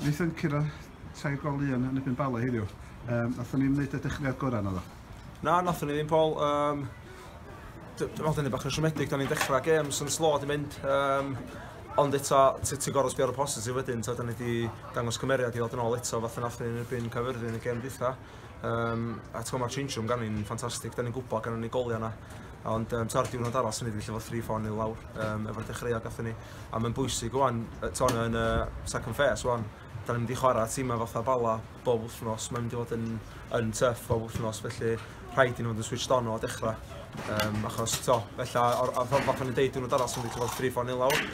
Wnaethon curo tair gol un yn ebyn Bala heddiw. Um, Nathon ni'n wneud y dechreuad gorau na ddo? Na, nathon ni ddim, Paul. Um, Roedd yn bach yn siomedig, da ni'n dechrau games yn slo di mynd. Um, ond eto, ti'n gorau sbio ar y positif wedyn, ta, da ni wedi dangos cymeriad i ddod yn ôl eto, fath yn allan yn erbyn cyfyrddin yn y gem dwytha. Um, a ti'n mae'r change room gan ni'n ffantastig, da ni'n gwybod gan ni'n goliau yna. Ond um, ta'r diwrnod arall, sy'n ni wedi lle fod 3-4 nil lawr, um, efo'r dechreuad gathon ni. a mae'n bwysig wan, ton yn y second phase wan, da ni'n mynd i chwarae tîmau fatha Bala bob wythnos, mae'n mynd i fod yn, yn tuff bob wythnos, felly rhaid i nhw fod yn switched on o dechrau. Um, achos, to, felly, ar y ffordd fatha ni'n deud, dwi'n dod sy'n mynd i fod 3-4 nil awr.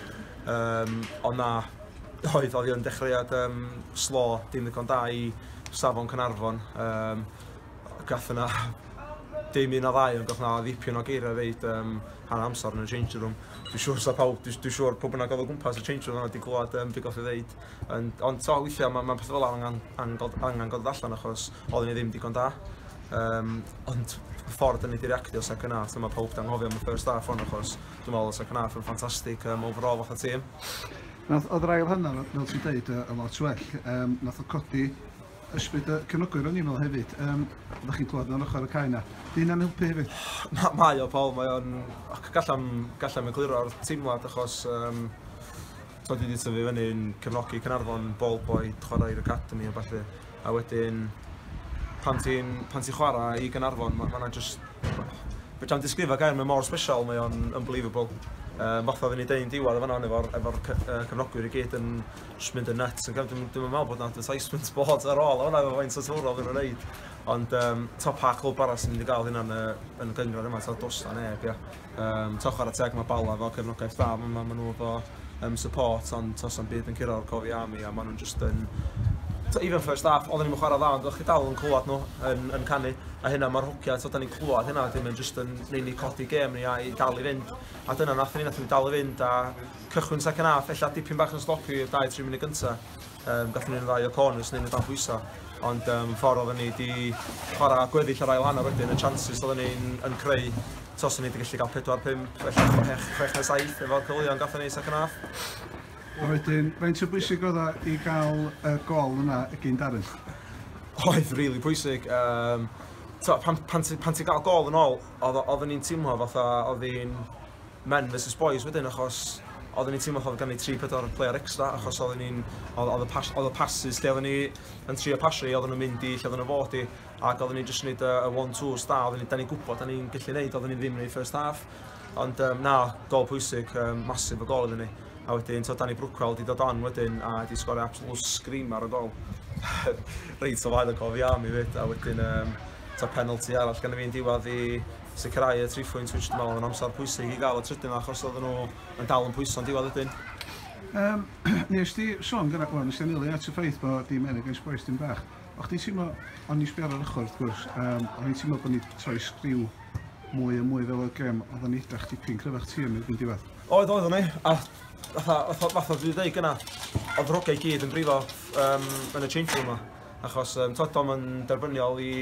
Um, o na, oedd, oedd yn dechreuad um, slo, dim ddigon da i safon Cynarfon. Um, gath yna dim un o ddau, ond gath yna ddipyn o geiriau reid um, hanner amser yn y change room. Dwi'n siŵr sa pawb, dwi'n dwi siŵr pwy bynnag oedd o gwmpas y change room yna wedi gwlad um, beth goff i ddeud. Ond, ond to, weithiau mae'n ma pethau fel angen, angen, angen goddod allan achos oedd ni ddim digon da. Um, ond y ffordd yn ei direactio second half, dyma pawb dan hofio am y first half ond achos dwi'n meddwl y second half yn ffantastig um, overall fath o tîm. Nath, oedd yr ail hanner, fel ti'n dweud, y lot well. Um, nath o codi Ysbryd y cefnogwyr o'n i'n meddwl hefyd. Um, Ydych chi'n clywed o'n ochr y cae na? Dyn am helpu hefyd? Na, mae o, Paul. Mae o'n... Gallem, gallem egluro'r teimlad achos... Um, so dwi wedi tyfu fyny'n cefnogi Cynarfon, ball boy, chwarae i'r academy a falle. A wedyn, pan ti'n ti chwarae i Gynarfon, mae yna just... Fe tra'n disgrifio gair, mae mor special, mae o'n unbelievable. Um, fatha oedden ni dweud yn diwedd efo efo'r efo cefnogwyr i gyd yn, jyst mynd yn nuts yn gyfnod, dwi'n meddwl bod yna advertisement bod ar ôl hwnna efo faint o twrol yn wneud. Ond um, to pa clwb arall sy'n mynd i gael hynna'n yn y gyngor yma, to dos na neb, ia. Um, to chwarae teg mae Bala fel cefnogaeth dda, mae ma, ma nhw efo um, support, ond tos am byd yn curo o'r cofi am i, a maen nhw'n just yn... To, even first half, oedden ni'n chwarae dda, ond o'ch chi dal yn clywed nhw yn, yn canu, a hynna mae'r hogia, to, da ni'n clywed hynna, dim yn just yn neud ni codi gêm ni a'i dal i fynd, a dyna nath ni, nath ni dal i fynd, a cychwyn second half, ella dipyn bach yn sloppy i'r 2-3 munud gynta. Um, Gathen ni'n ddau o corners neu'n y dan bwysa. Ond um, ffordd oedden ni di chwarae gweddill yr ail hanner wedyn, y chances oedden ni'n yn creu tos o'n ni wedi gallu cael 4-5, ella 6 na 7 efo'r cyfleon gathen ni second half. A wedyn, faint o bwysig oedd o i gael y gol yna y gyn Darren? Oedd, really pwysig. Um, pan, pan, pan ti'n cael gol yn ôl, oedden ni'n teimlo fatha oedd hi'n men versus boys wedyn achos oedden ni'n teimlo fatha oedd ganddi tri pedwar player extra achos oedden ni'n oedd oedd y pas oedd y passes lle oedden ni yn trio pasio i oedden nhw'n mynd i lle oedden nhw fod i ac oedden ni'n just yn neud y one twos da oedden ni da ni'n gwybod da ni'n gallu neud oedden ni ddim yn ei first half ond um, na gol pwysig um, masif o gol iddyn ni a wedyn to Danny Brookwell di dod on wedyn a di sgorio absolute scream ar y gol reit o flaen y gol fi am i fyd a wedyn um, to penalty arall gan y fi'n diwad i sicrhau y tri phwynt which dwi'n meddwl oedd yn amser pwysig i gael y trydydd yma achos oedden nhw yn dal yn pwyso'n diwedd ydyn. Um, nes ti sôn gyda, wel, nes ti anelu at y ffaith bod dim eneg eich boes dim bach. O chdi teimlo, ond i sbio'r ar ochr wrth gwrs, um, o'n i'n teimlo bod ni troi sgriw mwy a mwy fel y gem, oedd o'n edrach tipyn cryfach ti yn erbyn diwedd. Oedd, oedd o'n ei, a fatha, fatha dwi ddweud gyna, oedd ddrogau gyd yn brifo um, yn y change room yma, achos um, tod o'n derbyniol i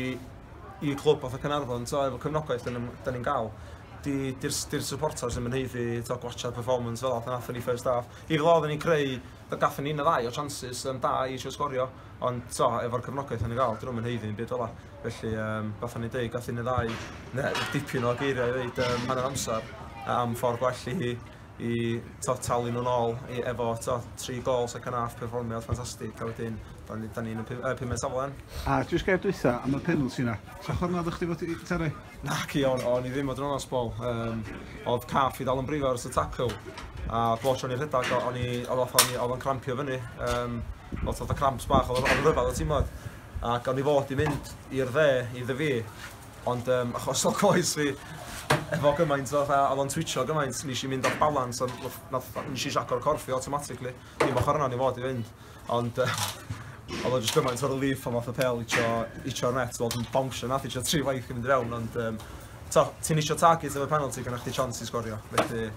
i clwb fatha Caernarfon t'o' efo cefnogaeth yn yym 'dan ni'n ga'l 'di 'di'r s- 'di'r supporters ddim yn haeddu t'o' gwatsiad performance fela pan athon ni first half. Fi gwel' odden ni'n creu do- gathon ni un ne' ddau o chances yym da i isio sgorio ond t'o' efo'r cefnogaeth o'n ni'n ga'l 'dyn nw'm yn haeddu ddim byd fela. Felly yym fatha o'n i'n deud gath un ne' ddau ne' dipyn o geiriau i ddeud yym hanner amsar a- am ffor gwell i i t'o' talu nw'n ôl i efo t'o' tri gôl second half perfformiad ffantastig a wedyn 'dan ni 'dan ni'n y pu- yy pumed safle. A jyst gair dwytha am y penalty 'na. Sa chdi me'wl dychdi fod 'di talu? Naci o'n o'n i ddim fod yn onast Paul yym o'dd calf fi dal yn brifo ers y tacl a bob tro o'n i rhedag o- o'n i o'dd fatha o'n i o'dd o'n crampio fyny yym o'dd fatha cramps bach o'dd o'n o'dd o'n ryfadd o timod ac o'n i fod i mynd i'r dde i ddyfi Ond yym, achos o coes fi, efo gymaint o fatha, oedd o'n twitcho gymaint, nes i mynd off balance, a nath, nes i siaco'r corff fi automatically. Dim ochr yna ni fod i fynd. Ond oedd o jyst gymaint o relief pan fath y pel icio, icio'r net, oedd yn bawnsio nath icio tri waith i mynd i fewn, ond um, to, ti'n isio target efo penalty gyda chdi chance i sgorio. Felly,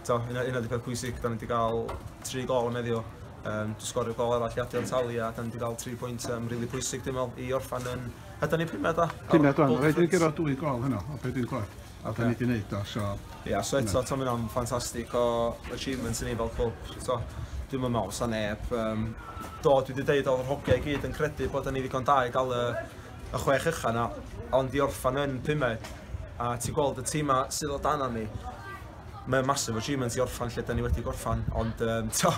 to, yna, yna di peth pwysig, da ni wedi cael tri gol yn meddio, um, sgorio gol arall i adio'r tali a da ni wedi cael tri pwynt um, rili really pwysig dim ond i orffan yn A dyna ni pumed do? Pumed wan, rhaid ni gyrraedd dwy gol heno o be dwi'n clywed. A da ni di wneud do, so... Ia, so eto, ti'n mynd o'n ffantastig o achievements i ni fel clwb. So, dwi'n mynd mewn sa neb. Um, do, dwi wedi dweud o'r hogiau i gyd yn credu bod ni ddigon da i gael y, y chwech ycha na, ond i orffan yn pumed. A ti'n gweld y tîm sydd o dan ni, mae'n massive achievement i orffan lle da ni wedi gorffan, ond um, to,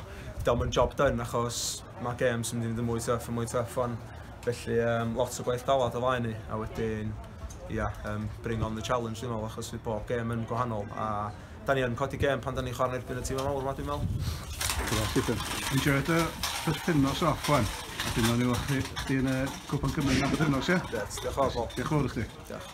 diolch yn job done achos mae games yn mynd i fod yn mwy tuff yn mwy tuff, ond Felly yym lot o gwaith galad o flaen ni a wedyn ia yym bring on the challenge dwi'n meddwl achos fydd bob gêm yn gwahanol a da ni yn codi gêm pan da ni'n chwarae yn erbyn y tîmau mawr 'ma dwi'n meddwl. Grêt Stephen. Enjoio dy bythefnos off wan. A dwi'n meddwl ni weld chdi yn y Cwpan Cymru am bythefnos ia? Grêt, diolch yn fawr Paul. Diolch yn fawr i chdi. Diolch.